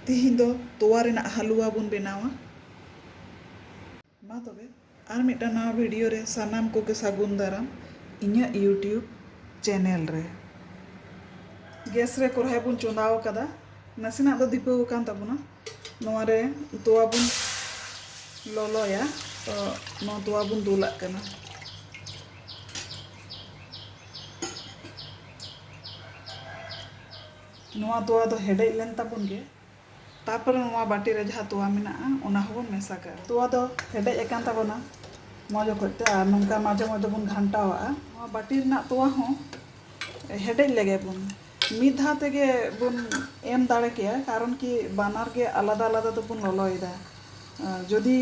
ᱛᱤᱦᱤᱧ ᱫᱚ ᱛᱚᱣᱟ ᱨᱮᱱᱟᱜ ᱦᱟᱞᱩᱣᱟ ᱵᱚᱱ ᱵᱮᱱᱟᱣᱟ ᱢᱟ ᱛᱚᱵᱮ ᱟᱨ ᱢᱤᱫᱴᱟᱝ ᱱᱟᱣᱟ ᱵᱷᱤᱰᱤᱭᱳ ᱨᱮ ᱥᱟᱱᱟᱢ ᱠᱚᱜᱮ ᱥᱟᱹᱜᱩᱱ ᱫᱟᱨᱟᱢ ᱤᱧᱟᱹᱜ ᱭᱩᱴᱤᱭᱩᱵᱽ ᱪᱮᱱᱮᱞ ᱨᱮ ᱜᱮᱥ ᱨᱮ ᱠᱚᱨᱦᱟᱭ ᱵᱚᱱ ᱪᱚᱸᱫᱟ ᱟᱠᱟᱫᱟ ᱱᱟᱥᱮᱱᱟᱜ ᱫᱚ ᱫᱤᱯᱟᱹᱣ ᱟᱠᱟᱱ ᱛᱟᱵᱚᱱᱟ ᱱᱚᱣᱟ ᱨᱮ ᱛᱚᱣᱟ ᱵᱚᱱ ᱞᱚᱞᱚᱭᱟ ᱛᱚ ᱱᱚᱣᱟ ᱛᱚᱣᱟ ᱵᱚᱱ ᱫᱩᱞᱟᱜ ᱠᱟᱱᱟ ᱱᱚᱣᱟ ᱛᱚᱣᱟ ᱫᱚ ᱦᱮᱰᱮᱡ ᱞᱮᱱ ᱛᱟᱵᱚᱱ ᱜᱮ ᱛᱟᱨᱯᱚᱨᱮ ᱱᱚᱣᱟ ᱵᱟᱹᱴᱤ ᱨᱮ ᱡᱟᱦᱟᱸ ᱛᱚᱣᱟ ᱢᱮᱱᱟᱜᱼᱟ ᱚᱱᱟ ᱦᱚᱸᱵᱚᱱ ᱢᱮᱥᱟ ᱠᱟᱜᱼᱟ ᱛᱚᱣᱟ ᱫᱚ ᱦᱮᱰᱮᱡ ᱟᱠᱟᱱ ᱛᱟᱵᱚᱱᱟ ᱢᱚᱡᱽ ᱚᱠᱚᱡ ᱛᱮ ᱟᱨ ᱱᱚᱝᱠᱟ ᱢᱟᱡᱷᱮ ᱢᱚᱡᱽ ᱵᱚᱱ ᱜᱷᱟᱱᱴᱟᱣᱟᱜᱼᱟ ᱱᱚᱣᱟ ᱵᱟᱹᱴᱤ ᱨᱮᱱᱟᱜ ᱛᱚᱣᱟ ᱦᱚᱸ ᱦᱮᱰᱮᱡ ᱞᱮᱜᱮ ᱵᱚᱱ ᱢᱤᱫ ᱫᱷᱟᱣ ᱛᱮᱜᱮ ᱵᱚᱱ ᱮᱢ ᱫᱟᱲᱮ ᱠᱮᱭᱟ ᱠᱟᱨᱚᱱ ᱠᱤ ᱵᱟᱱᱟᱨ ᱜᱮ ᱟᱞᱟᱫᱟ ᱟᱞᱟᱫᱟ ᱫᱚᱵᱚᱱ ᱞᱚᱞᱚᱭᱮᱫᱟ ᱡᱩᱫᱤ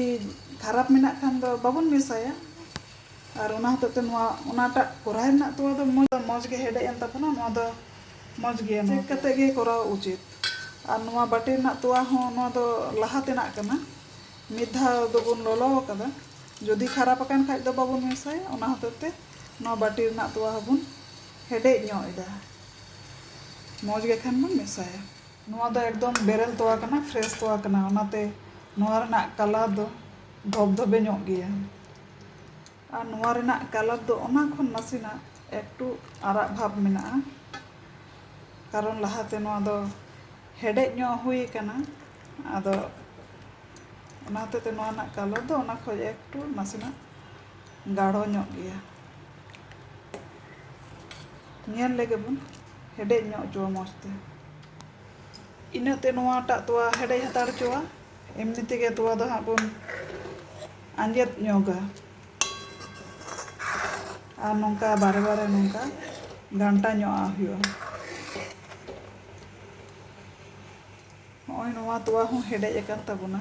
ᱠᱷᱟᱨᱟᱯ ᱢᱮᱱᱟᱜ ᱠᱷᱟᱱ ᱫᱚ ᱵᱟᱵᱚᱱ ᱢᱮᱥᱟᱭᱟ ᱟᱨ ᱚᱱᱟ ᱦᱚᱛᱮᱡ ᱛᱮ ᱱᱚᱣᱟ ᱚᱱᱟᱴᱟᱜ ᱠᱚᱨᱟᱭ ᱨᱮᱱᱟᱜ ᱛᱚᱣᱟ ᱫᱚ ᱢᱚᱡᱽ ᱢᱚᱡᱽ ᱜᱮ ᱦᱮᱰᱮᱡ ᱮᱱ ᱛᱟᱵᱚᱱᱟ ᱱᱚᱣᱟ ᱫᱚ ᱢᱚᱡᱽ ᱜᱮᱭᱟ ᱪᱮᱠ ᱠᱟᱛᱮ ᱜᱮ ᱠᱚᱨᱟᱣ ᱩᱪᱤᱛ ᱟᱨ ᱱᱚᱣᱟ ᱵᱟᱹᱴᱤ ᱨᱮᱱᱟᱜ ᱛᱚᱣᱟ ᱦᱚᱸ ᱱᱚᱣᱟ ᱫᱚ ᱞᱟᱦᱟ ᱛᱮᱱᱟᱜ ᱠᱟᱱᱟ ᱢᱤᱫ ᱫᱷᱟᱣ ᱫᱚᱵᱚᱱ ᱞᱚᱞᱚ ᱟᱠᱟᱫᱟ ᱡᱩᱫᱤ ᱠᱷᱟᱨᱟᱯ ᱟᱠᱟᱱ ᱠᱷᱟᱡ ᱫᱚ ᱵᱟᱵᱚᱱ ᱢᱮᱥᱟᱭᱟ ᱚᱱᱟ ᱦᱚᱛᱮᱡ ᱛᱮ ᱱᱚᱣᱟ ᱵᱟᱹᱴᱤ ᱨᱮᱱᱟᱜ ᱛᱚᱣᱟ ᱦᱚᱸᱵᱚᱱ ᱦᱮᱰᱮᱡ ᱧᱚᱜ ᱮᱫᱟ ᱢᱚᱡᱽ ᱜᱮ ᱠᱷᱟᱱ ᱵᱚᱱ ᱢᱮᱥᱟᱭᱟ ᱱᱚᱣᱟ ᱫᱚ ᱮᱠᱫᱚᱢ ᱵᱮᱨᱮᱞ ᱛᱚᱣᱟ ᱠᱟᱱᱟ ᱯᱷᱨᱮᱥ ᱛᱚᱣᱟ ᱠᱟᱱᱟ ᱚᱱᱟᱛᱮ ᱱᱚᱣᱟ ᱨᱮᱱᱟᱜ ᱠᱟᱞᱟᱨ ᱫᱚ ᱫᱷᱚᱵᱽ ᱫᱷᱚᱵᱮ ᱧᱚᱜ ᱜᱮᱭᱟ ᱟᱨ ᱱᱚᱣᱟ ᱨᱮᱱᱟᱜ ᱠᱟᱞᱟᱨ ᱫᱚ ᱚᱱᱟ ᱠᱷᱚᱱ ᱱᱟᱥᱮᱱᱟᱜ ᱮᱠᱴᱩ ᱟᱨᱟᱜ ᱵᱷᱟᱵᱽ ᱢᱮᱱᱟᱜᱼᱟ ᱠᱟᱨᱚᱱ ᱞᱟᱦᱟᱛᱮ ᱱᱚᱣᱟ ᱫᱚ ᱦᱮᱰᱮᱡ ᱧᱚᱜ ᱦᱩᱭ ᱟᱠᱟᱱᱟ ᱟᱫᱚ ᱚᱱᱟ ᱦᱚᱛᱮᱡ ᱛᱮ ᱱᱚᱣᱟ ᱨᱮᱱᱟᱜ ᱠᱟᱞᱟᱨ ᱫᱚ ᱚᱱᱟ ᱠᱷᱚᱱ ᱮᱠᱴᱩ ᱱᱟᱥᱮᱱᱟᱜ ᱜᱟᱲᱚ ᱧᱚᱜ ᱜᱮᱭᱟ ᱧᱮᱞ ᱞᱮᱜᱮ ᱵᱚᱱ ᱦᱮᱰᱮᱡ ᱧᱚᱜ ᱦᱚᱪᱚᱣᱟ ᱢᱚᱡᱽ ᱛᱮ ᱤᱱᱟᱹᱜ ᱛᱮ ᱱᱚᱣᱟᱴᱟᱜ ᱛᱚᱣᱟ ᱦᱮᱰᱮᱡ ᱦᱟᱛᱟᱲ ᱦᱚᱪᱚᱣᱟ ᱮᱢᱱᱤ ᱛᱮᱜᱮ ᱛᱚᱣᱟ ᱫᱚ ᱦᱟᱸᱜ ᱵᱚᱱ ᱟᱸᱡᱮᱫ ᱧᱚᱜᱟ ᱟᱨ ᱱᱚᱝᱠᱟ ᱵᱟᱨᱮ ᱵᱟᱨᱮ ᱱᱚᱝᱠᱟ ᱜᱷᱟᱱᱴᱟ ᱧᱚᱜ ᱟᱜ ᱦᱩᱭᱩᱜᱼᱟ ᱱᱚᱜᱼᱚᱭ ᱱᱚᱣᱟ ᱛᱚᱣᱟ ᱦᱚᱸ ᱦᱮᱰᱮᱡ ᱟᱠᱟᱱ ᱛᱟᱵᱚᱱᱟ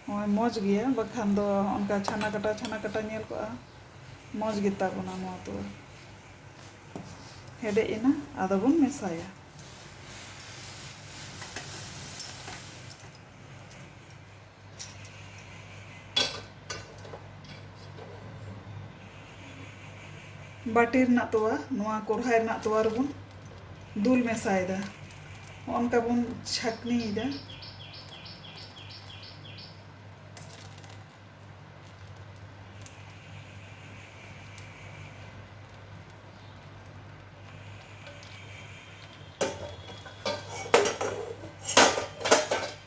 ᱱᱚᱜᱼᱚᱭ ᱢᱚᱡᱽ ᱜᱮᱭᱟ ᱵᱟᱠᱷᱟᱱ ᱫᱚ ᱚᱱᱠᱟ ᱪᱷᱟᱱᱟ ᱠᱟᱴᱟ ᱪᱷᱟᱱᱟ ᱠᱟᱴᱟ ᱧᱮᱞ ᱠᱚᱜᱼᱟ ᱢᱚᱡᱽ ᱜᱮᱛᱟ ᱵᱚᱱᱟ ᱱᱚᱣᱟ ᱛᱚᱣᱟ ᱦᱮᱰᱮᱡ ᱮᱱᱟ ᱟᱫᱚ ᱵᱚᱱ ᱢᱮᱥᱟᱭᱟ ᱵᱟᱹᱴᱤ ᱨᱮᱱᱟᱜ ᱛᱚᱣᱟ ᱱᱚᱣᱟ ᱠᱚᱲᱦᱟᱭ ᱨᱮᱱᱟᱜ ᱛᱚᱣᱟ ᱨᱮᱵᱚᱱ ᱫᱩᱞ ᱢᱮᱥᱟᱭᱮᱫᱟ ᱚᱱᱠᱟ ᱵᱚᱱ ᱪᱷᱟᱠᱱᱤᱭᱮᱫᱟ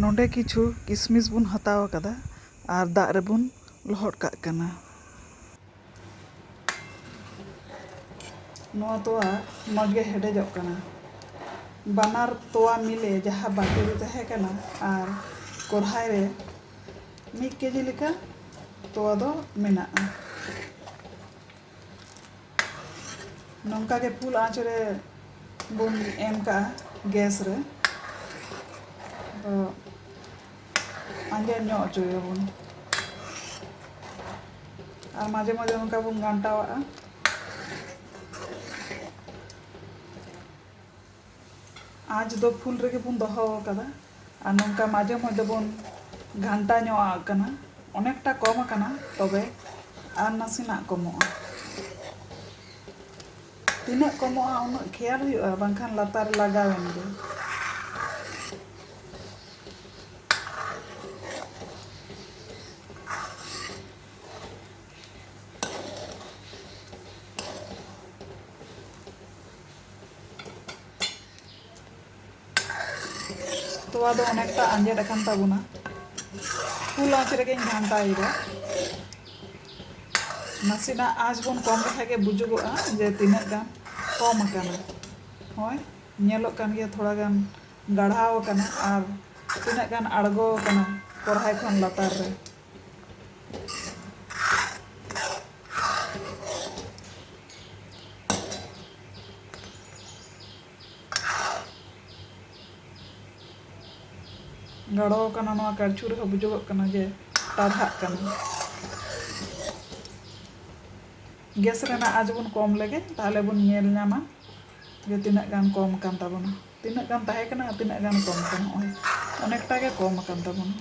ᱱᱚᱰᱮ ᱠᱤᱪᱷᱩ ᱠᱤᱥᱢᱤᱥ ᱵᱚᱱ ᱦᱟᱛᱟᱣ ᱟᱠᱟᱫᱟ ᱟᱨ ᱫᱟᱜ ᱨᱮᱵᱚᱱ ᱞᱚᱦᱚᱫ ᱠᱟᱜ ᱠᱟᱱᱟ᱾ ᱱᱚᱣᱟ ᱛᱚᱣᱟ ᱢᱚᱡᱽ ᱜᱮ ᱦᱮᱰᱮᱡᱚᱜ ᱠᱟᱱᱟ᱾ ᱵᱟᱱᱟᱨ ᱛᱚᱣᱟ ᱢᱤᱞᱮ ᱡᱟᱦᱟᱸ ᱵᱟᱹᱴᱤ ᱨᱮ ᱛᱟᱦᱮᱸ ᱠᱟᱱᱟ ᱟᱨ ᱠᱚᱨᱦᱟᱭ ᱨᱮ ᱢᱤᱫ ᱠᱮᱡᱤ ᱞᱮᱠᱟ ᱛᱚᱣᱟ ᱫᱚ ᱢᱮᱱᱟᱜᱼᱟ᱾ ᱱᱚᱝᱠᱟ ᱜᱮ ᱯᱷᱩᱞ ᱟᱸᱪ ᱨᱮ ᱵᱚᱱ ᱮᱢ ᱠᱟᱜᱼᱟ ᱜᱮᱥ ᱨᱮ ᱟᱫᱚ ᱟᱸᱡᱮᱫ ᱧᱚᱜ ᱦᱚᱪᱚᱭᱟᱵᱚᱱ ᱟᱨ ᱢᱟᱡᱷᱮ ᱢᱟᱡᱷᱮ ᱱᱚᱝᱠᱟ ᱵᱚᱱ ᱜᱷᱟᱱᱴᱟᱣᱟᱜᱼᱟ ᱟᱸᱪ ᱫᱚ ᱯᱷᱩᱞ ᱨᱮᱜᱮ ᱵᱚᱱ ᱫᱚᱦᱚ ᱟᱠᱟᱫᱟ ᱟᱨ ᱱᱚᱝᱠᱟ ᱢᱟᱡᱷᱮ ᱢᱚᱫᱽᱫᱷᱮ ᱵᱚᱱ ᱜᱷᱟᱱᱴᱟ ᱧᱚᱜ ᱟᱜ ᱠᱟᱱᱟ ᱚᱱᱮᱠᱴᱟ ᱠᱚᱢ ᱟᱠᱟᱱᱟ ᱛᱚᱵᱮ ᱟᱨ ᱱᱟᱥᱮᱱᱟᱜ ᱠᱚᱢᱚᱜᱼᱟ ᱛᱤᱱᱟᱹᱜ ᱠᱚᱢᱚᱜᱼᱟ ᱩᱱᱟᱹᱜ ᱠᱷᱮᱭᱟᱞ ᱦᱩᱭᱩᱜᱼᱟ ᱵᱟᱝᱠᱷᱟᱱ ᱞᱟᱛᱟᱨ ᱞᱟᱜᱟᱣᱮᱱ ᱜᱮ ᱛᱚᱣᱟ ᱫᱚ ᱚᱱᱮᱠᱴᱟ ᱟᱸᱡᱮᱫ ᱟᱠᱟᱱ ᱛᱟᱵᱚᱱᱟ ᱯᱷᱩᱞ ᱟᱸᱪ ᱨᱮᱜᱮᱧ ᱜᱷᱟᱱᱴᱟᱭᱮᱫᱟ ᱱᱟᱥᱮᱱᱟᱜ ᱟᱸᱪ ᱵᱚᱱ ᱠᱚᱢ ᱞᱮᱠᱷᱟᱱ ᱜᱮ ᱵᱩᱡᱩᱜᱚᱜᱼᱟ ᱡᱮ ᱛᱤᱱᱟᱹᱜ ᱜᱟᱱ ᱠᱚᱢ ᱟᱠᱟᱱᱟ ᱦᱚᱸᱜᱼᱚᱭ ᱧᱮᱞᱚᱜ ᱠᱟᱱ ᱜᱮᱭᱟ ᱛᱷᱚᱲᱟ ᱜᱟᱱ ᱜᱟᱲᱦᱟᱣ ᱟᱠᱟᱱᱟ ᱟᱨ ᱛᱤᱱᱟᱹᱜ ᱜᱟᱱ ᱟᱬᱜᱚ ᱟᱠᱟᱱᱟ ᱠᱚᱲᱦᱟᱭ ᱠᱷᱚᱱ ᱞᱟᱛᱟᱨ ᱨᱮ ᱜᱟᱲᱚ ᱟᱠᱟᱱᱟ ᱱᱚᱣᱟ ᱠᱟᱲᱪᱩ ᱨᱮᱦᱚᱸ ᱵᱩᱡᱩᱜᱚᱜ ᱠᱟᱱᱟ ᱡᱮ ᱴᱟᱨᱦᱟᱜ ᱠᱟᱱᱟ ᱜᱮᱥ ᱨᱮᱱᱟᱜ ᱟᱸᱪ ᱵᱚᱱ ᱠᱚᱢ ᱞᱮᱜᱮ ᱛᱟᱦᱞᱮ ᱵᱚᱱ ᱧᱮᱞ ᱧᱟᱢᱟ ᱡᱮ ᱛᱤᱱᱟᱹᱜ ᱜᱟᱱ ᱠᱚᱢ ᱟᱠᱟᱱ ᱛᱟᱵᱚᱱᱟ ᱛᱤᱱᱟᱹᱜ ᱜᱟᱱ ᱛᱟᱦᱮᱸ ᱠᱟᱱᱟ ᱟᱨ ᱛᱤᱱᱟᱹᱜ ᱜᱟᱱ ᱠᱚᱢ ᱠᱟᱱᱟ ᱱᱚᱜᱼᱚᱭ ᱚᱱᱮᱠᱴᱟ ᱜᱮ ᱠᱚᱢ ᱟᱠᱟᱱ ᱛᱟᱵᱚᱱᱟ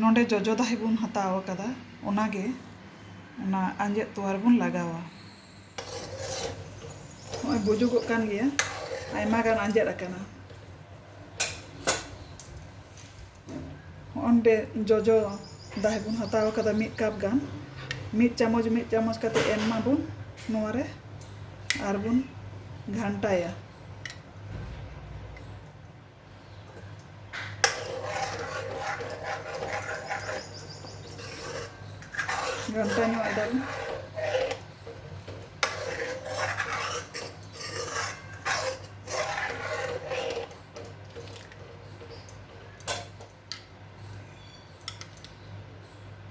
ᱱᱚᱰᱮ ᱡᱚᱡᱚ ᱫᱟᱦᱮ ᱵᱚᱱ ᱦᱟᱛᱟᱣ ᱟᱠᱟᱫᱟ ᱚᱱᱟᱜᱮ ᱚᱱᱟ ᱟᱸᱡᱮᱫ ᱛᱚᱣᱟ ᱨᱮᱵᱚᱱ ᱞᱟᱜᱟᱣᱟ ᱱᱚᱜᱼᱚᱭ ᱵᱩᱡᱩᱜᱚᱜ ᱠᱟᱱ ᱜᱮᱭᱟ ᱟᱭᱢᱟ ᱜᱟᱱ ᱟᱸᱡᱮᱫ ᱟᱠᱟᱱᱟ ᱦᱚᱸᱜᱼᱚ ᱱᱚᱰᱮ ᱡᱚᱡᱚ ᱫᱟᱦᱮ ᱵᱚᱱ ᱦᱟᱛᱟᱣ ᱟᱠᱟᱫᱟ ᱢᱤᱫ ᱠᱟᱯ ᱜᱟᱱ ᱢᱤᱫ ᱪᱟᱢᱚᱪ ᱢᱤᱫ ᱪᱟᱢᱚᱪ ᱠᱟᱛᱮ ᱮᱢ ᱢᱟᱵᱚᱱ ᱱᱚᱣᱟ ᱨᱮ ᱟᱨ ᱵᱚᱱ ᱜᱷᱟᱱᱴᱟᱭᱟ ᱜᱷᱟᱱᱴᱟ ᱧᱚᱜ ᱮᱫᱟ ᱵᱚᱱ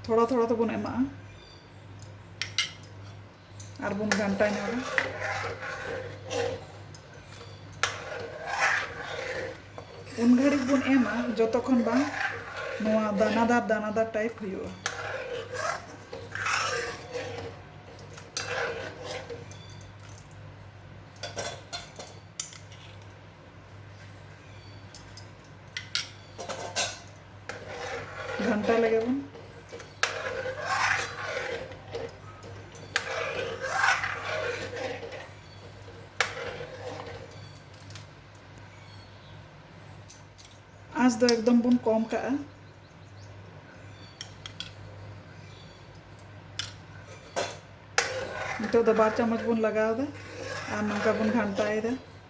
ᱛᱷᱚᱲᱟ ᱛᱷᱚᱲᱟ ᱛᱮᱵᱚᱱ ᱮᱢᱟᱜᱼᱟ ᱟᱨ ᱵᱚᱱ ᱜᱷᱟᱱᱴᱟ ᱧᱚᱜᱟ ᱩᱱ ᱜᱷᱟᱹᱲᱤᱡ ᱵᱚᱱ ᱮᱢᱟ ᱡᱚᱛᱚ ᱠᱷᱚᱱ ᱵᱟᱝ ᱱᱚᱣᱟ ᱫᱟᱱᱟᱫᱟᱨ ᱫᱟᱱᱟᱫᱟᱨ ᱴᱟᱭᱤᱯ ᱦᱩᱭᱩᱜᱼᱟ ᱜᱷᱟᱱᱴᱟ ᱞᱮᱜᱮ ᱵᱚᱱ ᱟᱸᱥ ᱫᱚ ᱮᱠᱫᱚᱢ ᱵᱚᱱ ᱠᱚᱢ ᱠᱟᱜᱼᱟ ᱱᱤᱛᱚᱜ ᱫᱚ ᱵᱟᱨ ᱪᱟᱢᱚᱪ ᱵᱚᱱ ᱞᱟᱜᱟᱣᱫᱟ ᱟᱨ ᱱᱚᱝᱠᱟ ᱵᱚᱱ ᱜᱷᱟᱱᱴᱟᱭᱮᱫᱟ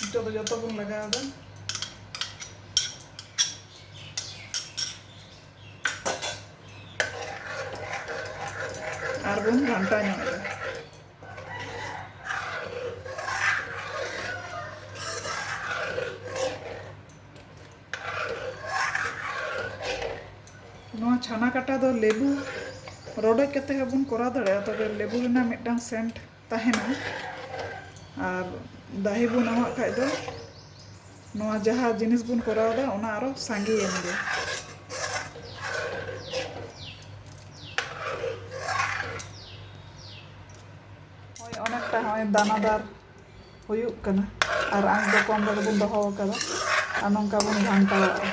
ᱱᱤᱛᱚᱜ ᱫᱚ ᱡᱚᱛᱚ ᱵᱚᱱ ᱞᱟᱜᱟᱣ ᱮᱫᱟ ᱟᱨ ᱵᱚᱱ ᱜᱷᱟᱱᱴᱟ ᱧᱚᱜ ᱮᱫᱟ ᱱᱚᱣᱟ ᱪᱷᱟᱱᱟ ᱠᱟᱴᱟ ᱫᱚ ᱞᱮᱵᱩ ᱨᱚᱰᱚᱡ ᱠᱟᱛᱮ ᱦᱚᱸᱵᱚᱱ ᱠᱚᱨᱟᱣ ᱫᱟᱲᱮᱭᱟᱜᱼᱟ ᱛᱚᱵᱮ ᱞᱮᱵᱩ ᱨᱮᱱᱟᱜ ᱢᱤᱫᱴᱟᱝ ᱥᱮᱱᱴ ᱛᱟᱦᱮᱱᱟ ᱟᱨ ᱫᱟᱦᱮ ᱵᱚᱱ ᱮᱢᱟᱜ ᱠᱷᱟᱡ ᱫᱚ ᱱᱚᱣᱟ ᱡᱟᱦᱟᱸ ᱡᱤᱱᱤᱥ ᱵᱚᱱ ᱠᱚᱨᱟᱣ ᱮᱫᱟ ᱚᱱᱟ ᱟᱨᱚ ᱥᱟᱸᱜᱮᱭᱮᱱ ᱜᱮ ᱦᱚᱸᱜᱼᱚᱭ ᱚᱱᱮᱠᱴᱟ ᱦᱚᱸᱜᱼᱚᱭ ᱫᱟᱱᱟᱫᱟᱨ ᱦᱩᱭᱩᱜ ᱠᱟᱱᱟ ᱟᱨ ᱟᱸᱥ ᱫᱚ ᱠᱚᱢ ᱨᱮᱜᱮ ᱵᱚᱱ ᱫᱚᱦᱚ ᱟᱠᱟᱫᱟ ᱟᱨ ᱱᱚᱝᱠᱟ ᱵᱚᱱ ᱜᱷᱟᱱᱴᱟᱣᱟᱜᱼᱟ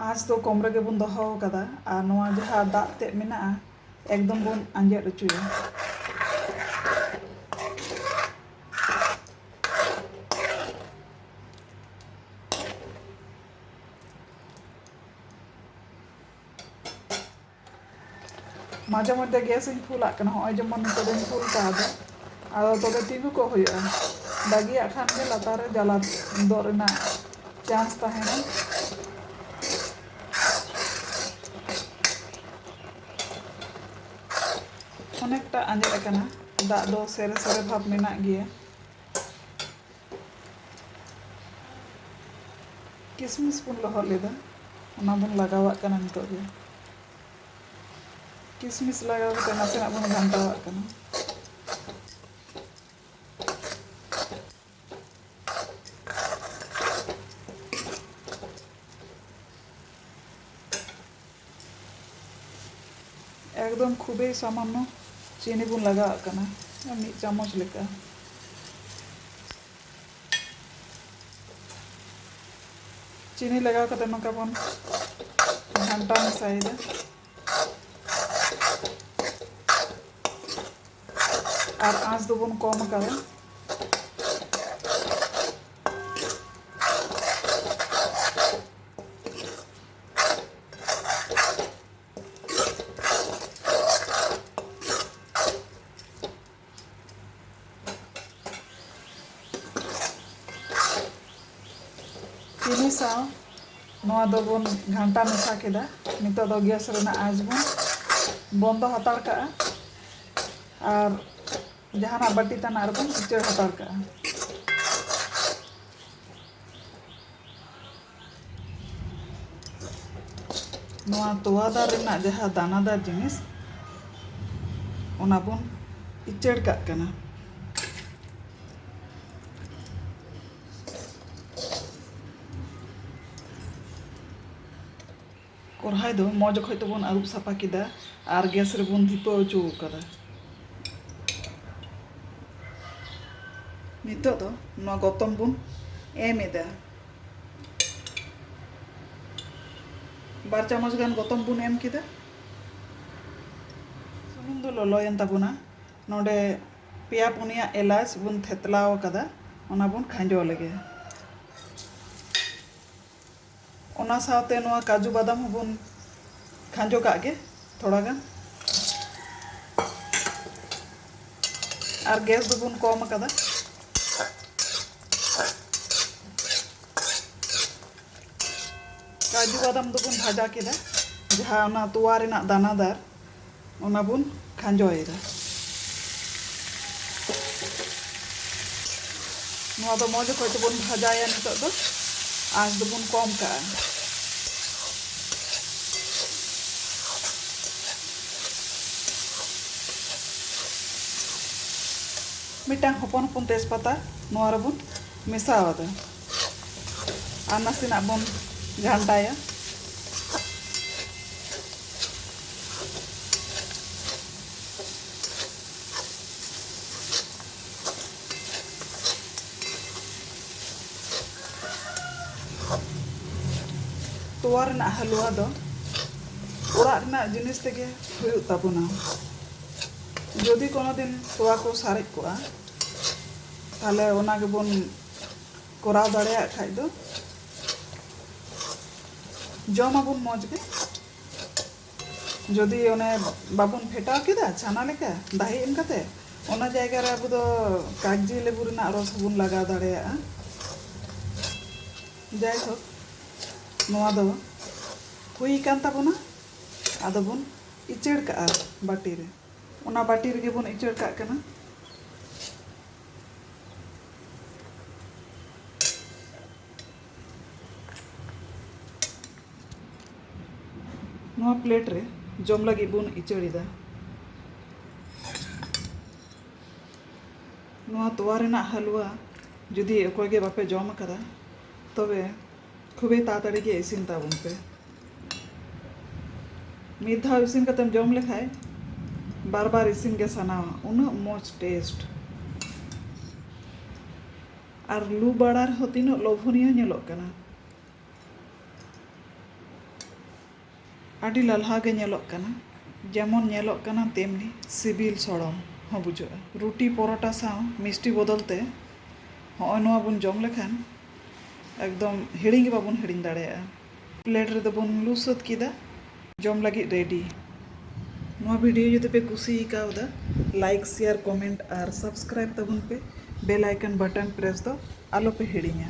ᱟᱸᱥ ᱫᱚ ᱠᱚᱢ ᱨᱮᱜᱮ ᱵᱚᱱ ᱫᱚᱦᱚ ᱟᱠᱟᱫᱟ ᱟᱨ ᱱᱚᱣᱟ ᱡᱟᱦᱟᱸ ᱫᱟᱜ ᱛᱮᱫ ᱢᱮᱱᱟᱜᱼᱟ ᱮᱠᱫᱚᱢ ᱵᱚᱱ ᱟᱸᱡᱮᱫ ᱦᱚᱪᱚᱭᱟ ᱢᱟᱡᱷᱮ ᱢᱚᱫᱽᱫᱷᱮ ᱜᱮᱥ ᱤᱧ ᱯᱷᱩᱞᱟᱜ ᱠᱟᱱᱟ ᱦᱚᱸᱜᱼᱚᱭ ᱡᱮᱢᱚᱱ ᱱᱤᱛᱚᱜ ᱫᱚᱧ ᱯᱷᱩᱞ ᱠᱟᱣᱫᱟ ᱟᱫᱚ ᱛᱚᱵᱮ ᱛᱤᱸᱜᱩ ᱠᱚᱜ ᱦᱩᱭᱩᱜᱼᱟ ᱵᱟᱹᱜᱤᱭᱟᱜ ᱠᱷᱟᱱ ᱜᱮ ᱞᱟᱛᱟᱨ ᱨᱮ ᱡᱟᱞᱟ ᱫᱚᱜ ᱨᱮᱱᱟᱜ ᱪᱟᱱᱥ ᱛᱟᱦᱮᱱᱟ ᱚᱱᱮᱠᱴᱟ ᱟᱸᱡᱮᱫ ᱟᱠᱟᱱᱟ ᱫᱟᱜ ᱫᱚ ᱥᱮᱨᱮ ᱥᱮᱨᱮ ᱵᱷᱟᱵᱽ ᱢᱮᱱᱟᱜ ᱜᱮᱭᱟ ᱠᱤᱥᱢᱤᱥ ᱵᱚᱱ ᱞᱚᱦᱚᱫ ᱞᱮᱫᱟ ᱚᱱᱟ ᱵᱚᱱ ᱞᱟᱜᱟᱣᱟᱜ ᱠᱟᱱᱟ ᱱᱤᱛᱚᱜ ᱫᱚ ᱠᱤᱥᱢᱤᱥ ᱞᱟᱜᱟᱣ ᱠᱟᱛᱮ ᱱᱟᱥᱮᱱᱟᱜ ᱵᱚᱱ ᱜᱷᱟᱱᱴᱟᱣᱟᱜ ᱠᱟᱱᱟ ᱮᱠᱫᱚᱢ ᱠᱷᱩᱵᱮᱭ ᱥᱟᱢᱟᱱᱱᱚ ᱪᱤᱱᱤ ᱵᱚᱱ ᱞᱟᱜᱟᱣᱟᱜ ᱠᱟᱱᱟ ᱢᱤᱫ ᱪᱟᱢᱚᱪ ᱞᱮᱠᱟ ᱪᱤᱱᱤ ᱞᱟᱜᱟᱣ ᱠᱟᱛᱮ ᱱᱚᱝᱠᱟ ᱵᱚᱱ ᱜᱷᱟᱱᱴᱟ ᱢᱮᱥᱟᱭᱮᱫᱟ ᱟᱨ ᱟᱸᱥ ᱫᱚᱵᱚᱱ ᱠᱚᱢ ᱟᱠᱟᱫᱟ ᱥᱟᱶ ᱱᱚᱣᱟ ᱫᱚᱵᱚᱱ ᱜᱷᱟᱱᱴᱟ ᱢᱮᱥᱟ ᱠᱮᱫᱟ ᱱᱤᱛᱚᱜ ᱫᱚ ᱜᱮᱥ ᱨᱮᱱᱟᱜ ᱟᱸᱪ ᱵᱚᱱ ᱵᱚᱱᱫᱚ ᱦᱟᱛᱟᱲ ᱠᱟᱜᱼᱟ ᱟᱨ ᱡᱟᱦᱟᱱᱟᱜ ᱵᱟᱹᱴᱤ ᱛᱟᱱᱟᱜ ᱨᱮᱵᱚᱱ ᱩᱪᱟᱹᱲ ᱦᱟᱛᱟᱲ ᱠᱟᱜᱼᱟ ᱱᱚᱣᱟ ᱛᱚᱣᱟ ᱫᱟᱨ ᱨᱮᱱᱟᱜ ᱡᱟᱦᱟᱸ ᱫᱟᱱᱟᱫᱟᱨ ᱡᱤᱱᱤᱥ ᱚᱱᱟ ᱵᱚᱱ ᱤᱪᱟᱹᱲ ᱠᱟᱜ ᱠᱟᱱᱟ ᱠᱚᱨᱦᱟᱭ ᱫᱚ ᱢᱚᱡᱽ ᱚᱠᱚᱡ ᱛᱮᱵᱚᱱ ᱟᱹᱨᱩᱵ ᱥᱟᱯᱷᱟ ᱠᱮᱫᱟ ᱟᱨ ᱜᱮᱥ ᱨᱮᱵᱚᱱ ᱫᱷᱤᱯᱟᱹᱣ ᱦᱚᱪᱚ ᱟᱠᱟᱫᱟ ᱱᱤᱛᱚᱜ ᱫᱚ ᱱᱚᱣᱟ ᱜᱚᱛᱚᱢ ᱵᱚᱱ ᱮᱢ ᱮᱫᱟ ᱵᱟᱨ ᱪᱟᱢᱚᱪ ᱜᱟᱱ ᱜᱚᱛᱚᱢ ᱵᱚᱱ ᱮᱢ ᱠᱮᱫᱟ ᱥᱩᱱᱩᱢ ᱫᱚ ᱞᱚᱞᱚᱭᱮᱱ ᱛᱟᱵᱚᱱᱟ ᱱᱚᱰᱮ ᱯᱮᱭᱟ ᱯᱩᱱᱭᱟ ᱮᱞᱟᱪ ᱵᱚᱱ ᱛᱷᱮᱛᱞᱟᱣ ᱟᱠᱟᱫᱟ ᱚᱱᱟ ᱵᱚᱱ ᱠᱷᱟᱸᱡᱚ ᱞᱮᱜᱮ ᱚᱱᱟ ᱥᱟᱶᱛᱮ ᱱᱚᱣᱟ ᱠᱟᱡᱩ ᱵᱟᱫᱟᱢ ᱦᱚᱸᱵᱚᱱ ᱠᱷᱟᱸᱡᱚ ᱠᱟᱜ ᱜᱮ ᱛᱷᱚᱲᱟ ᱜᱟᱱ ᱟᱨ ᱜᱮᱥ ᱫᱚᱵᱚᱱ ᱠᱚᱢ ᱟᱠᱟᱫᱟ ᱠᱟᱡᱩ ᱵᱟᱫᱟᱢ ᱫᱚᱵᱚᱱ ᱵᱷᱟᱡᱟ ᱠᱮᱫᱟ ᱡᱟᱦᱟᱸ ᱚᱱᱟ ᱛᱚᱣᱟ ᱨᱮᱱᱟᱜ ᱫᱟᱱᱟᱫᱟᱨ ᱚᱱᱟ ᱵᱚᱱ ᱠᱷᱟᱸᱡᱚᱭᱮᱫᱟ ᱱᱚᱣᱟ ᱫᱚ ᱢᱚᱡᱽ ᱚᱠᱚᱡ ᱛᱮᱵᱚᱱ ᱵᱷᱟᱡᱟᱭᱟ ᱱᱤᱛᱚᱜ ᱫᱚ ᱟᱸᱪ ᱫᱚᱵᱚᱱ ᱠᱚᱢ ᱠᱟᱜᱼᱟ ᱢᱤᱫᱴᱟᱝ ᱦᱚᱯᱚᱱ ᱦᱚᱯᱚᱱ ᱛᱮᱡᱽᱯᱟᱛᱟ ᱱᱚᱣᱟ ᱨᱮᱵᱚᱱ ᱢᱮᱥᱟᱣᱟᱫᱟ ᱟᱨ ᱱᱟᱥᱮᱱᱟᱜ ᱵᱚᱱ ᱜᱷᱟᱱᱴᱟᱭᱟ ᱛᱚᱣᱟ ᱨᱮᱱᱟᱜ ᱦᱟᱞᱩᱣᱟ ᱫᱚ ᱚᱲᱟᱜ ᱨᱮᱱᱟᱜ ᱡᱤᱱᱤᱥ ᱛᱮᱜᱮ ᱦᱩᱭᱩᱜ ᱛᱟᱵᱚᱱᱟ ᱡᱩᱫᱤ ᱠᱳᱱᱳ ᱫᱤᱱ ᱛᱚᱣᱟ ᱠᱚ ᱥᱟᱨᱮᱡ ᱠᱚᱜᱼᱟ ᱛᱟᱦᱚᱞᱮ ᱚᱱᱟ ᱜᱮᱵᱚᱱ ᱠᱚᱨᱟᱣ ᱫᱟᱲᱮᱭᱟᱜ ᱠᱷᱟᱡ ᱫᱚ ᱡᱚᱢ ᱟᱵᱚᱱ ᱢᱚᱡᱽ ᱜᱮ ᱡᱩᱫᱤ ᱚᱱᱮ ᱵᱟᱵᱚᱱ ᱯᱷᱮᱴᱟᱣ ᱠᱮᱫᱟ ᱪᱷᱟᱱᱟ ᱞᱮᱠᱟ ᱫᱟᱦᱮ ᱮᱢ ᱠᱟᱛᱮ ᱚᱱᱟ ᱡᱟᱭᱜᱟ ᱨᱮ ᱟᱵᱚ ᱫᱚ ᱠᱟᱜᱽᱡᱤ ᱞᱮᱵᱩ ᱨᱮᱱᱟᱜ ᱨᱚᱥ ᱦᱚᱸᱵᱚᱱ ᱞᱟᱜᱟᱣ ᱫᱟᱲᱮᱭᱟᱜᱼᱟ ᱡᱟᱭᱦᱳᱠ ᱱᱚᱣᱟ ᱫᱚ ᱦᱩᱭ ᱟᱠᱟᱱ ᱛᱟᱵᱚᱱᱟ ᱟᱫᱚ ᱵᱚᱱ ᱤᱪᱟᱹᱲ ᱠᱟᱜᱼᱟ ᱵᱟᱹᱴᱤ ᱨᱮ ᱚᱱᱟ ᱵᱟᱹᱴᱤ ᱨᱮᱜᱮ ᱵᱚᱱ ᱤᱪᱟᱹᱲ ᱠᱟᱜ ᱠᱟᱱᱟ ᱱᱚᱣᱟ ᱯᱞᱮᱴ ᱨᱮ ᱡᱚᱢ ᱞᱟᱹᱜᱤᱫ ᱵᱚᱱ ᱤᱪᱟᱹᱲᱮᱫᱟ ᱱᱚᱣᱟ ᱛᱚᱣᱟ ᱨᱮᱱᱟᱜ ᱦᱟᱹᱞᱩᱣᱟ ᱡᱩᱫᱤ ᱚᱠᱚᱭ ᱜᱮ ᱵᱟᱯᱮ ᱡᱚᱢ ᱟᱠᱟᱫᱟ ᱛᱚᱵᱮ ᱠᱷᱩᱵᱮ ᱛᱟᱲᱟᱛᱟᱲᱤ ᱜᱮ ᱤᱥᱤᱱ ᱛᱟᱵᱚᱱ ᱯᱮ ᱢᱤᱫ ᱫᱷᱟᱣ ᱤᱥᱤᱱ ᱠᱟᱛᱮᱢ ᱡᱚᱢ ᱞᱮᱠᱷᱟᱡ ᱵᱟᱨ ᱵᱟᱨ ᱤᱥᱤᱱ ᱜᱮ ᱥᱟᱱᱟᱣᱟ ᱩᱱᱟᱹᱜ ᱢᱚᱡᱽ ᱴᱮᱥᱴ ᱟᱨ ᱞᱩ ᱵᱟᱲᱟ ᱨᱮᱦᱚᱸ ᱛᱤᱱᱟᱹᱜ ᱞᱚᱵᱷᱚᱱᱤᱭᱚ ᱧᱮᱞᱚᱜ ᱠᱟᱱᱟ ᱟᱹᱰᱤ ᱞᱟᱞᱦᱟ ᱜᱮ ᱧᱮᱞᱚᱜ ᱠᱟᱱᱟ᱾ ᱡᱮᱢᱚᱱ ᱧᱮᱞᱚᱜ ᱠᱟᱱᱟ ᱛᱮᱢᱱᱤ ᱥᱤᱵᱤᱞ ᱥᱚᱲᱚᱢ ᱦᱚᱸ ᱵᱩᱡᱷᱟᱹᱜᱼᱟ᱾ ᱨᱩᱴᱤ ᱯᱚᱨᱚᱴᱟ ᱥᱟᱶ ᱢᱤᱥᱴᱤ ᱵᱚᱫᱚᱞ ᱛᱮ ᱦᱚᱸᱜᱼᱚᱭ ᱱᱚᱣᱟ ᱵᱚᱱ ᱡᱚᱢ ᱞᱮᱠᱷᱟᱱ ᱮᱠᱫᱚᱢ ᱦᱤᱲᱤᱧ ᱜᱮ ᱵᱟᱵᱚᱱ ᱦᱤᱲᱤᱧ ᱫᱟᱲᱮᱭᱟᱜᱼᱟ᱾ ᱯᱞᱮᱴ ᱨᱮᱫᱚ ᱵᱚᱱ ᱞᱩ ᱥᱟᱹᱛ ᱠᱮᱫᱟ᱾ ᱡᱚᱢ ᱞᱟᱹᱜᱤᱫ ᱨᱮᱰᱤ᱾ ᱱᱚᱣᱟ ᱵᱷᱤᱰᱤᱭᱳ ᱡᱩᱫᱤ ᱯᱮ ᱠᱩᱥᱤ ᱠᱟᱣᱫᱟ ᱞᱟᱭᱤᱠ ᱥᱮᱭᱟᱨ ᱠᱚᱢᱮᱱᱴ ᱟᱨ ᱥᱟᱵᱥᱠᱨᱟᱭᱤᱵᱽ ᱛᱟᱵᱚᱱ ᱯᱮ᱾ ᱵᱮᱞ ᱟᱭᱠᱚᱱ ᱵᱟᱴᱚᱱ ᱯᱨᱮᱥ ᱫᱚ ᱟᱞᱚ ᱯᱮ ᱦᱤᱲᱤᱧᱟ᱾